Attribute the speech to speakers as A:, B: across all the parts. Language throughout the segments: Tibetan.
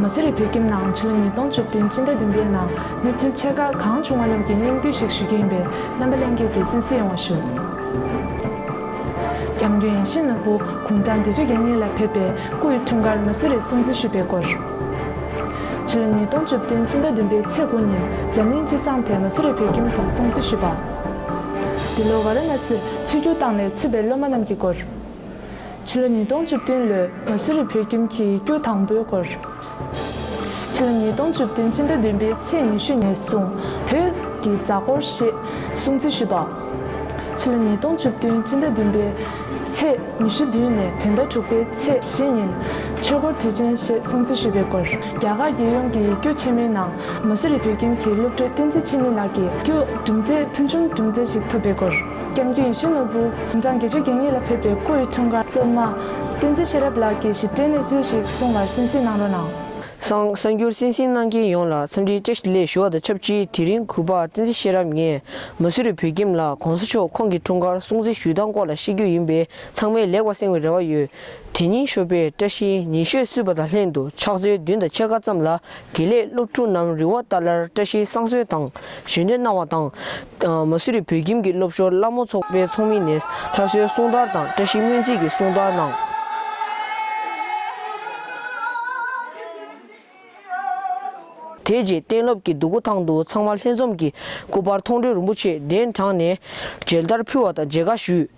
A: མ་སུ་རི་བོད་ཁྱིམ་ནང་ཕྱི་ལོ་ཉིས་སྟོང་བཅུ་བདུན་སྤྱི་ཟླ་བདུན་པའི་ནང་གནས་ཚུལ་ཆེ་ཁག་གང་བྱུང་བ་རྣམས་ཀྱི་སྙིང་བསྡུས་ཤིག་ཞུ་རྒྱུ་ཡིན་པས་རྣམ་པ་ལྷན་རྒྱས་ཀྱིས་གསན་གཟིགས་ཡོང་བ་ཞུ། སྐྱབས་མགོན་ཡེ་ཤེས་ནོར་བུ་གུང་ཐང་བདེ་ཆོས་རྒྱལ་གཉིས་ལ་ཕེབས་པའི་སྐུ་ཡི་འཁྲུངས་སྐར་མ་སུ་རིར་སྲུང་བརྩི་ཞུས་པའི་སྐོར། ཕྱི་ལོ་ཉིས་སྟོང་བཅུ་བདུན་སྤྱི་ཟླ་བདུན་པའི་ཚེས་དགུ་ཉིན་འཛམ་གླིང་སྤྱི་བསང་དེ་མ་སུ་རི་བོད་ཁྱིམ་དུ་སྲུང་བརྩི་ཞུས་པ། འདི་ལོ་ཝཱ་ར་ན་སིར་ཆིབས་བསྒྱུར་བཏང་ནས་ཚུད་པའི་སློབ་མ་རྣམས་ཀྱི་སྐོར། ཕྱི་ལོ་ཉིས་སྟོང་བཅུ་བདུན་ལོའི་མ་སུ་རི་བོད་ཁྱིམ་གྱི་སྐྱུག་དང་པོའི་སྐོར། ཕྱི་ལོ་ཉིས་སྟོང་བཅུ་བདུན་ཕྱི་ཟླ་བདུན་པའི་ཚེས་ཉི་ཤུ་ནས་བཟུང་བོད་ཀྱི་གཟའ་འཁོར་ཞེས་སྲུང་བརྩི་ཞུས་པ། ཕྱི་ལོ་ཉིས་སྟོང་བཅུ་བདུན་ཕྱི་ཟླ་བདུན་པའི་ཚེས་ཉི་ཤུ་བདུན་ནས་བོད་ཟླ་དྲུག་པའི་ཚེས་བཞི་ཉིན་ཆོས་འཁོར་དུས་ཆེན་ཞེས་སྲུང་བརྩི་ཞུས་པའི་སྐོར། རྒྱ་གར་རྒྱལ་ཡོངས་ཀྱི་སྐྱུག་ཆེན་མོའི་ནང་མ་སུ་རི་བོད་ཁྱིམ་གྱི་སློབ་ཕྲུག་བསྟན་འཛིན་འཆི་མེད་ལགས་ཀྱིས་སྐྱུག་གྲུབ་འབྲས་ཕུལ་བྱུང་གྲུབ་འབྲས་ཤིག་ཐོབ་པའི་སྐོར། སྐྱབས་མགོན་ཡེ་ཤུ་ནོར་བུ་ཡུམ་ཚང་དགེ་ཆོས་རྒྱལ་གཉིས་ལ་ཕེབས་པའི་སྐུ་ཡི་འཁྲུངས་སྐར། སློབ་མ། བསྟན་འཛིན་ཤེས་རབ་ལགས་ཀྱིས་ཞིབ་ཕྲའི་གནས་ཚུལ་ཞིག་གསུང་བར་གསན་གཟིགས་གནང་རོགས་གནང། གསར་
B: འགྱུར་གསན་གཟིགས་གནང་མཁན་ཡོངས་ལ་འཚམས་འདྲིའི་བཀྲ་ཤིས་ལེགས་ཞུ་བ་དང་ཆབས་ཅིག་དེ་རིང་གུས་པ་བསྟན་འཛིན་ཤེས་རབ་ངས་མ་སུ་རི་བོད་ཁྱིམ་ལ་གོང་ས་མཆོག་ཁོང་གི་འཁྲུངས་སྐར་སྲུང་བརྩི་ཞུས་སྟངས་སྐོར་ལ་ཤེས་རྒྱུ་ཡིན་པས་ཚང་མས་ལེགས་པར་གསན་བའི་རེ་བ་ཡོད་དེ་ཉིན་ཤོ་པས་བཀྲ་ཤིས་ཉིན་ཤོས་བསུས་པ་དང་ལྷན་དུ་ཕྱག་ཚོད་བདུན་དང་ཕྱེད་ཀ་ཙམ་ལ་དགེ་ལེགས་སློབ་ཕྲུག་རྣམས་རི་བོ་རྟ་ལར་བཀྲ་ཤིས་བསང་གསོལ་དང་གཞོན་ནུ་སྣང་བ་དང། མ་སུ་རི་བོད་ཁྱིམ་གྱི་སློབ་ཞོར་སླ་མོ་ཚོགས་པའི་ཚོགས་མི་ནས་ལྷ་གསོལ་གསུང་བརྡར་དང་བཀྲ་ཤིས་སྨོན་ཚིག་གི་གསུང་བརྡར་གནང། དེ་རྗེས་གཏན་སློབ་ཀྱི་འདུ་སྒོ་ཐང་དུ་ཚང་མ་ལྷན་འཛོམས་ཀྱིས་སྐུ་པར་མཐོང་གྲོལ་རིན་པོ་ཆེ་གདན་དྲངས་ནས་མཇལ་དར་ཕུལ་བ་དང་མཇལ་ཁ་ཞུས།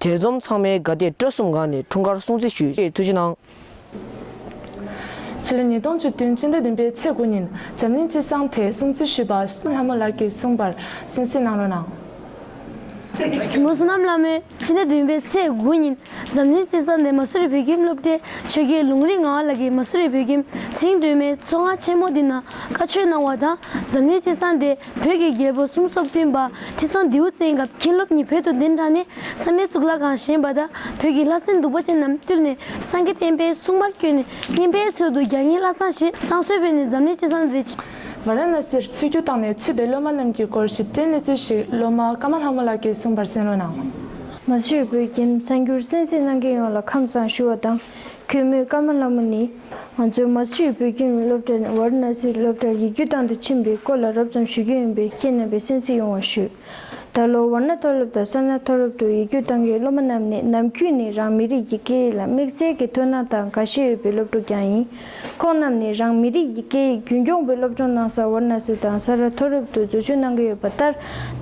B: དེར་འཛོམས་ཚང་མའི་དགའ་དད་སྤྲོ་གསུམ་འགག་ནས་འཁྲུངས་སྐར་སྲུང་བརྩི་ཞུ་ཆེད་ཐུགས་རྗེ་གནང། ཕྱི་
A: ལོ་ཉིས་སྟོང་བཅུ་བདུན་སྤྱི་ཟླ་བདུན་པའི་ཚེས་དགུ་ཉིན་འཛམ་གླིང་སྤྱི་བསང་དེ་སྲུང་བརྩི་ཞུས་པ་སུ་ལྷ་མོ་ལགས་ཀྱིས་གསུངས་པར་གསན་གཟིགས་གནང་རོགས་གནང། མུ་
C: སུ་ནམ་བླ་མའི་སྤྱི་ཟླ་བདུན་པའི་ཚེས་དགུ་ཉིན་འཛམ་གླིང་སྤྱི་གསར་ནས་མ་སུ་རི་བོད་ཁྱིམ་སློབ་གྲྭའི་ཆོས་དགེ་ལུང་རིགས་ངག་ལགས་ཀྱིས་མ་སུ་རི་བོད་ཁྱིམ་ཚིག་འགྲོས་མའི་མཚོ་སྔ་ཆེན་མོ་འདི་ན་བཀའ་ཆོས་གནང་བ་དང་འཛམ་གླིང་སྤྱི་གསར་འདས་བོད་ཀྱི་རྒྱལ་པོ་གསུམ་སོགས་བསྟུན་པ་ཁྲི་སྲོང་ལྡེའུ་བཙན་སྐབས་མཁན་སློབ་གཉིས་བོད་དུ་གདན་དྲངས་ནས་བསམ་ཡས་གཙུག་ལག་ཁང་བཞེངས་པ་དང་བོད་ཀྱི་ལྷ་སྲིན་གདུག་པ་ཅན་རྣམས་བཏུལ་ནས་སངས་རྒྱས་བསྟན་པའི་སྲུང་མར་བསྐྱོད་ནས་བསྙེན་པའི་ཚུལ་དུ་རྒྱ་ངྷི་ལྷ་བསང་ཞེས་བསང་གསོལ་ཕུལ་ནས་འཛམ་གླིང་སྤྱི་གསར་འདས་ཝཱ་རཱ་ན་སིར་
A: ཚུད་རྒྱུ་བཏང་ནས་ཚུད་པའི་སློབ་མ་རྣམས་ཀྱི་སྐོར་ཞིབ་ཕྲའི་གནས་ཚུལ་ཞིག་སློབ་མ་ཀ་མ་ལྷ་མོ་ལགས་ཀྱིས་གསུངས་པར་གསན་ལོ་གནང། མ་ཕྱིར་
D: བོད་ཁྱིམ་གསར་འགྱུར་གསན་གཟིགས་གནང་མཁན་ཡོངས་ལ་ཁམས་བཟང་ཞུ་བ་དང་གུས་མོས་ཀ་མ་ལྷ་མོ་ནི་ང་ཚོའི་མ་ཕྱིར་བོད་ཁྱིམ་སློབ་གྲྭར་ཝཱ་རཱ་ན་སིར་སློབ་གྲྭར་ཡིག་རྒྱུགས་བཏང་དུ་ཕྱིན་པའི་སྐོར་ལ་རབ་ཙམ་ཞུ་རྒྱུ་ཡིན་པས་ཁྱེད་རྣམ་པས་གསན་གཟིགས་ཡོང་བ་ཞུ། ད་ལོ་ཝར་ན་མཐོ་སློབ་དང་ས་ན་མཐོ་སློབ་ཏུ་ཡིག་རྒྱུགས་བཏང་མཁན་སློབ་མ་རྣམས་ནི་ནམ་རྒྱུན་ནས་རང་མི་རིགས་ཀྱི་སྐད་ཡིག་ལ་དམིགས་བསལ་གྱི་མཐོང་སྣང་དང་དགའ་ཞེན་ཡོད་པའི་སློབ་ཕྲུག་ཀྱང་ཡིན། ཁོང་རྣམས་ནས་རང་མི་རིགས་ཀྱི་སྐད་ཡིག་རྒྱུན་སྐྱོང་པའི་སློབ་སྦྱོང་གནང་སར་ཝར་ན་སི་དང་ས་རཱ་མཐོ་སློབ་ཏུ་འཛུལ་ཞུགས་གནང་གི་ཡོད་པ་ལྟར་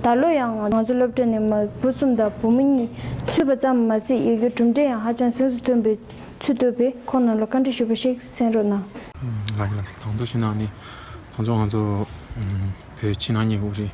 D: ད་ལོ་ཡང་ང་ཚོ་སློབ་གྲྭ་ནས་མ་བུ་གསུམ་དང་བུ་མོ་གཉིས་ཚུད་པ་ཙམ་མ་ཟད་ཡི་གེ་གྲུབ་འབྲས་ཡང་ཧ་ཅང་གཟེངས་སུ་ཐོན་པའི་ཚུལ་བཏོད་པས་ཁོང་རྣམས་ལ་བཀའ་འདྲི་ཞུ་བ་ཞིག་གསན་རོགས་གནང། ལགས།
E: གང་དུ་ཞུ་ན་ནི། ད་ཚོ་ང་ཚོ། བོད་ཕྱི་ནང་གཉིས་པོ་རེད།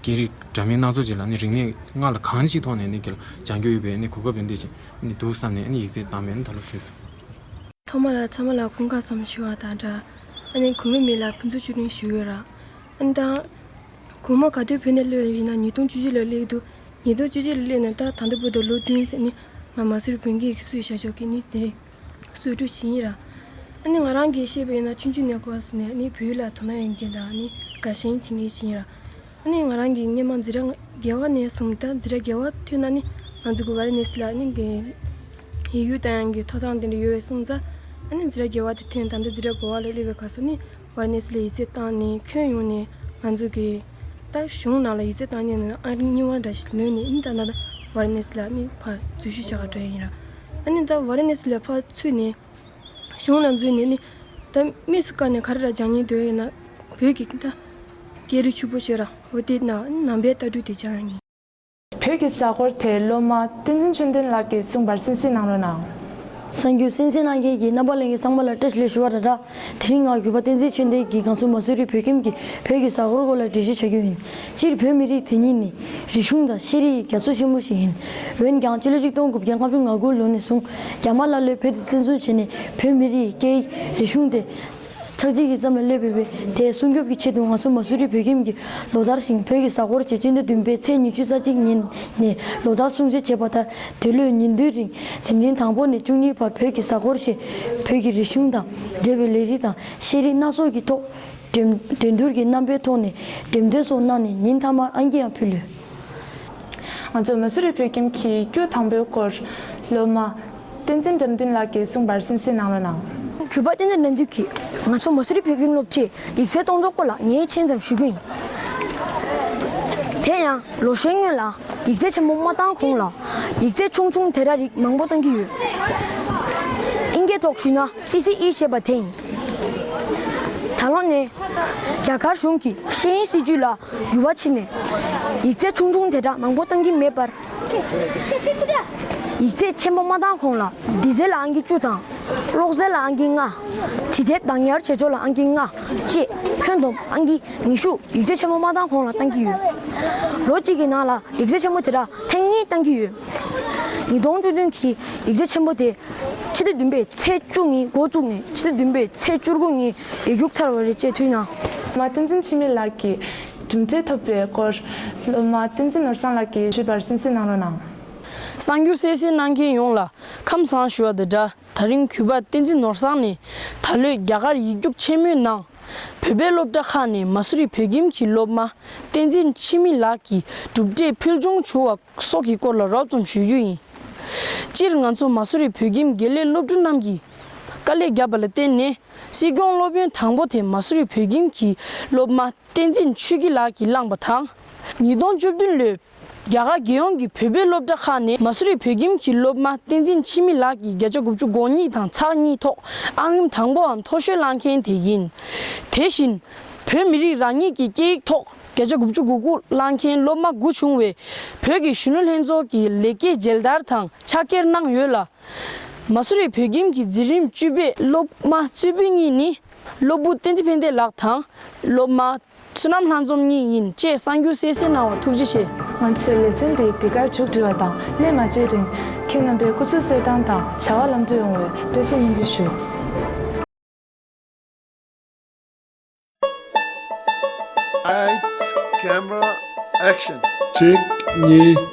E: སྐད་རིགས་འདྲ་མིན་སྣ་ཚོགས་ཅིག་ལ་རིག་གནས་སྔར་ལ་གང་ཞིག་ཐོག་ནས་སྦྱང་རྒྱུ་ཡོད་པའི་གོ་སྐབས་འདི་ཞིག་འདུག་བསམ་ནས་ཡིག་རྩིས་བཏང་བས་ད་ལོ་ཚུད། ཐོག་མ་
F: ལ་ཚང་མ་ལ་ཀུན་དགའ་ཙམ་ཞུ་བ་དང་འདྲ། གོང་མའི་མི་ལ་ཕུན་ཚོགས་བཅུ་དྲུག་ཞུ་འོས་ར། འོན་ཏང། གོང་མ་ག་དུས་བོད་ནས་གློད་ཡོད་ཡིན་ན་ཉིས་སྟོང་བཅུ་བཞི་ལ་གློད་འདུག་ཉིས་སྟོང་བཅུ་བཞི་ལ་གློད་ནས་ད་ད་ལྟ་བོད་དུ་ལོ་བདུན་ཟིན་ནི་ང་མ་སུར་བོད་འགས་ཀྱི་སུས་བྱ་ཆོག་གི་ནི་དེ་རེད། གསོས་ཁྲུས་བྱིན་ཡིན་ར། ནི་ང་རང་གིས་ཤེས་པ་ཡིན་ན་ཆུང་ཆུང་ནས་གོ་ཟི་ནས་ནི་བུ་ལ་དོ་སྣང་ཡོད་མཁན་དང་ནི་དགའ་ཞེན་བྱེད་མཁན་ཞིག་ཡིན་ར། ནི་ང་རང་གིས་སྔན་མ་འཛི་ར་རྒྱལ་བ་ནས་བཟུང་ད་འཛི་ར་རྒྱལ་བ་ཐུན་ན་ནི་ང་ཚོ་གི་བ་རི་ནེ་སི་ལ་ནི་གི་ཡི་ཡུལ་དང་ཡང་གི་ཐོ་ཐང་དེ་འདྲ་ཡོད་བས་སོང་ཙང་ནི་འཛི་ར་རྒྱལ་བ་དེ་ཐུན་ད་འདི་འཛི་ར་གོ་བ་ལ་སླེབས་པའི་ག་སོ་ནི། བར་གནས་ཚུལ་ལ་ཡིད་ཆེས་བཏང་ནས་ཁྱོན་ཡོངས་ནས་ང་ཚོ་གིས། ཏང་གཞུང་ནང་ལ་ཡིད་ཆེས་བཏང་ཉེན་ནང་ཨ་རིའི་རྙིང་བ་འདྲ་ཞིག་ལོན་ནས་ཨི་མདའ་ནཱ་ད་བར་གནས་ཚུལ་ལ་དམིགས་བར་འཛུལ་ཞུ་བྱ་དགའ་སྤྲོ་ཡིན། ཨ་ནི་ད་བར་གནས་ཚུལ་ལས་ཕར་ཚུད་ནས་གཞུང་ནང་འཛུལ་ནས་ནི་ད་དམིགས་སུ་བཀར་ནས་ག་རེ་ར་སྦྱང་ཉེན་དོན་ཡོད་ན་བོད་ཀྱི་ཨི་མདའ། སྐད་རིགས་ཕྱུག་པོ་ཤོད་ར་བོ་དེ་ནང་པའི་ལྟ་གྲུས་དེ་སྦྱང་ཡོང་ངེས། བོད་ཀྱི་གཟའ་
A: འཁོར་དེ་སློབ་མ་བསྟན་འཛིན་ཆོས་ལྡན་ལགས་ཀྱིས་གསུངས་པར་སེམས་གསེང་གནང་རོགས་གནང། གསང་རྒྱུད་སེང་
C: སེང་གནང་མཁན་གྱི་རྣམ་པ་གླིང་གི་གསང་པ་ལ་སྤྲད་ལོས་ཞུ་བ་ར་ར། དེ་རིང་ངག་སྒྱུར་པ་བསྟན་འཛིན་ཆོས་ལྡན་གྱིས་གངས་སུ་མ་སུ་རི་བོད་ཁྱིམ་གྱི་བོད་ཀྱི་གཟའ་འཁོར་སྐོར་ལ་འགྲེལ་བཤད་བྱ་རྒྱུ་ཡིན། སྤྱིར་བོད་མི་རིགས་དེ་ཉིད་ནི་རིག་གཞུང་དང་ཤེས་རིག་གི་རྒྱ་མཚོ་ཆེན་པོ་ཞིག་ཡིན། འོན་ཀྱང་སྤྱི་ལོ་ཆིག་སྟོང་དགུ་བརྒྱ་ལྔ་བཅུ་ང་དགུ་ལོ་ནས་བཟུང་རྒྱ་དམར་ཀླ་ཀློས་བོད་དུ་བཙན་བཟུང་བྱས་ནས་བོད་མི་རིགས་ཀྱི་སྐད་ཡིག་རིག་གཞུང་སྟེ། ཆག་འཇིག་གི་མཚམས་ལ་སླེབས་ཡོད་པས་དེའི་སྲུང་སྐྱོབ་ཀྱི་ཆེད་དུ་ང་ཚོ་མ་སུ་རི་བོད་ཁྱིམ་གྱི་ལོ་ལྟར་ཞིང་བོད་ཀྱི་གཟའ་འཁོར་བྱེད་སྤྱི་ཟླ་བདུན་པའི་ཚེས་ཉི་ཤུ་རྩ་གཅིག་ཉིན་ནས་ལོ་ལྟར་སྲུང་བརྩི་བྱེད་པ་ལྟར་འདི་ལོའི་ཉིན་བདུན་རིང་ཟེམ་ཐིང་དང་པོ་ནས་བཅུ་གཉིས་བར་བོད་ཀྱི་གཟའ་འཁོར་ཞེས་བོད་ཀྱི་རིག་གཞུང་དང་འབྲེལ་བའི་ལས་རིགས་དང་ཤེས་རིག་སྣ་ཚོགས་ཀྱི་ཐོག་འགྲན་བསྡུར་གྱི་རྣམ་པའི་ཐོག་ནས་འགྲེམས་སྟོན་སོགས་གནང་ནས་ཉིན་མཐའ་མར་ཨང་ཀི་ཡང་ཕུལ་ལོས། ང་ཚོ་
A: མ་སུ་རི་བོད་ཁྱིམ་གྱིས་རྒྱུ་དང་པོའི་སྐོར་སློབ་མ། བསྟན་འཛིན་འགྲམ་འདུན་ལགས་ཀྱིས་གསུངས་པར་སེམས་གསལ་གནང་རོགས་གནང། གུས་པ་བསྟན་འཛིན་དགྲ་
C: འདུལ་གྱིས་ང་ཚོ་མ་སུ་རི་བོད་ཁྱིམ་སློབ་ཁྲིད་ཡིག་གསལ་གཏོང་གྲོགས་པོ་ལ་ངའི་མཆན་ཙམ་ཞུ་རྒྱུ་ཡིན། དེ་ཡང་ལོ་ཤས་སྔོན་ལ་ཡིག་གསལ་ཆེན་མོ་མ་བཏང་གོང་ལ་ཡིག་གསལ་ཆུང་ཆུང་དེ་འདྲ་རིགས་མང་པོ་བཏང་གི་ཡོད། ཨིན་སྐད་ཐོག་ཞུས་ན་སི་སི་ཨི་ཞེས་པ་དེ་ཡིན། ད་ལོ་ནས་རྒྱ་གར་གཞུང་གི་ཤེས་ཡིན་སྲིད་ཇུས་ལ་འགྱུར་བ་ཕྱིན་ནས་ཡིག་གསལ་ཆུང་ཆུང་དེ་འདྲ་མང་པོ་བཏང་གི་མེད་པར། ཡིག་ཚད་ཆེན་པོ་མ་བཏང་གོང་ལ་འདི་ཚད་ལ་ཨང་ཀི་བཅུ་དང། གློག་ཚད་ལ་ཨང་ཀི་ལྔ། དྲི་ཚད་བདག་ཉར་བྱེད་ཕྱོགས་ལ་ཨང་ཀི་ལྔ་བཅས་ཁྱོན་བསྡོམས་ཨང་ཀི་ཉི་ཤུ་ཡིག་ཚད་ཆེན་པོ་མ་བཏང་གོང་ལ་བཏང་གི་ཡོད། ལོ་གཅིག་གི་ནང་ལ་ཡིག་ཚད་ཆེན་པོ་དེ་དག་ཐེངས་གཉིས་བཏང་གི་ཡོད། ཉིས་སྟོང་བཅུ་བདུན་གྱི་ཡིག་ཚད་ཆེན་པོ་དེ་ཕྱི་ཟླ་བདུན་པའི་ཚེས་བཅུ་ཉིན་མགོ་བཙུགས་ནས་ཕྱི་ཟླ་བདུན་པའི་ཚེས་བཅུ་དགུ་ཉིན་ཡིག་རྒྱུགས་ཚར་བ་རེད་ཅེས་ཐུགས་སྣང། མ་བསྟན་འཛིན་འཆི་
A: མེད་ལགས་ཀྱིས། གྲུབ་འབྲས་ཐོབ་པའི་སྐོར་སློབ་མ་བསྟན་འཛིན་ནོར་བཟང་ལགས་ཀྱིས་ཞུས་པར་གསན་གསན་གནང་རོགས་གནང། གསར་འགྱུར་
G: གསལ་བཤད་གནང་མཁན་ཡོངས་ལ་ཁམས་བཟང་ཞུ་བ་དང་སྦྲགས་ད་རིང་གུས་པ་བསྟན་འཛིན་ནོར་བཟང་ནས་ད་ལོའི་རྒྱ་གར་ཡིག་རྒྱུགས་ཆེན་མོའི་ནང་བོད་པའི་སློབ་གྲྭ་ཁག་ནས་མ་སུ་རི་བོད་ཁྱིམ་གྱི་སློབ་མ་བསྟན་འཛིན་འཆི་མེད་ལགས་ཀྱི་གྲུབ་འབྲས་ཕུལ་བྱུང་ཞུ་བ་སོགས་ཀྱི་སྐོར་ལ་རོབ་ཙམ་ཞུ་རྒྱུ་ཡིན། སྤྱིར་ང་ཚོ་མ་སུ་རི་བོད་ཁྱིམ་དགེ་ལས་སློབ་ཕྲུག་རྣམས་ཀྱིས་དཀའ་ལས་བརྒྱབ་པ་ལ་བརྟེན་ནས་སྲིད་སྐྱོང་སློབ་ཡོན་དང་པོ་དེ་མ་སུ་རི་བོད་ཁྱིམ་གྱི་སློབ་མ་བསྟན་འཛིན་ཆོས་སྐྱིད་ལགས་ཀྱིས་བླངས་པ་དང། ཉིས་སྟོང་བཅུ་བདུན་ལོའི་རྒྱ་གར་རྒྱལ་ཡོངས་ཀྱི་བོད་པའི་སློབ་གྲྭ་ཁག་ནས་མ་སུ་རི་བོད་ཁྱིམ་གྱི་སློབ་མ་བསྟན་འཛིན་འཆི་མེད་ལགས་ཀྱིས་བརྒྱ་ཆ་དགུ་བཅུ་གོ་གཉིས་དང་ཚགས་གཉིས་ཐོག་ཨང་རིམ་དང་པོའམ་མཐོ་ཤོས་བླངས་མཁན་དེ་ཡིན། དེ་བཞིན། བོད་མི་རིགས་རང་ཉིད་ཀྱི་སྐད་ཡིག་ཐོག་བརྒྱ་ཆ་དགུ་བཅུ་དགུ་དགུ་བླངས་མཁན་སློབ་མ་དགུ་བྱུང་བས་བོད་ཀྱི་གཞོན་ནུ་ལྷན་ཚོགས་ཀྱི་ལེགས་སྐྱེས་མཇལ་དར་དང་ཕྱག་འཁྱེར་གནང་ཡོད་ལ། མ་སུ་རི་བོད་ཁྱིམ་གྱི་འཛིན་རིམ་བཅུ་པའི་སློབ་མ་གཙོས་བུ་གཉིས་ནི་སློབ་བུ་བསྟན་འཛིན་ཕན་བདེ་ལགས་དང། སློབ་མ། བསོད་ནམས་ལྷ་འཛོམས་གཉིས་ཡིན་ཅེས་གསང་རྒྱུ་གསལ་གསལ་གནང་བར་ཐུགས་རྗེ་ཆེ། ང་ཚོས་ལེ་ཚན་
A: འདི་འདི་གར་མཇུག་སྒྲིལ་བ་དང་སླད་མ་བརྗེད་རིང། ཁྱེད་རྣམ་པའི་སྐུ་ཚེ་གསེར་ཐང་དང་བྱ་བ་ལམ་འགྲོ་ཡོང་བའི་བཀྲ་ཤིས་སྨོན་འདུན་ཞུ། ཨཱ་ཙི། ཀེམ་རཱ། ཨེཀ་
H: ཤིན། གཅིག་གཉིས།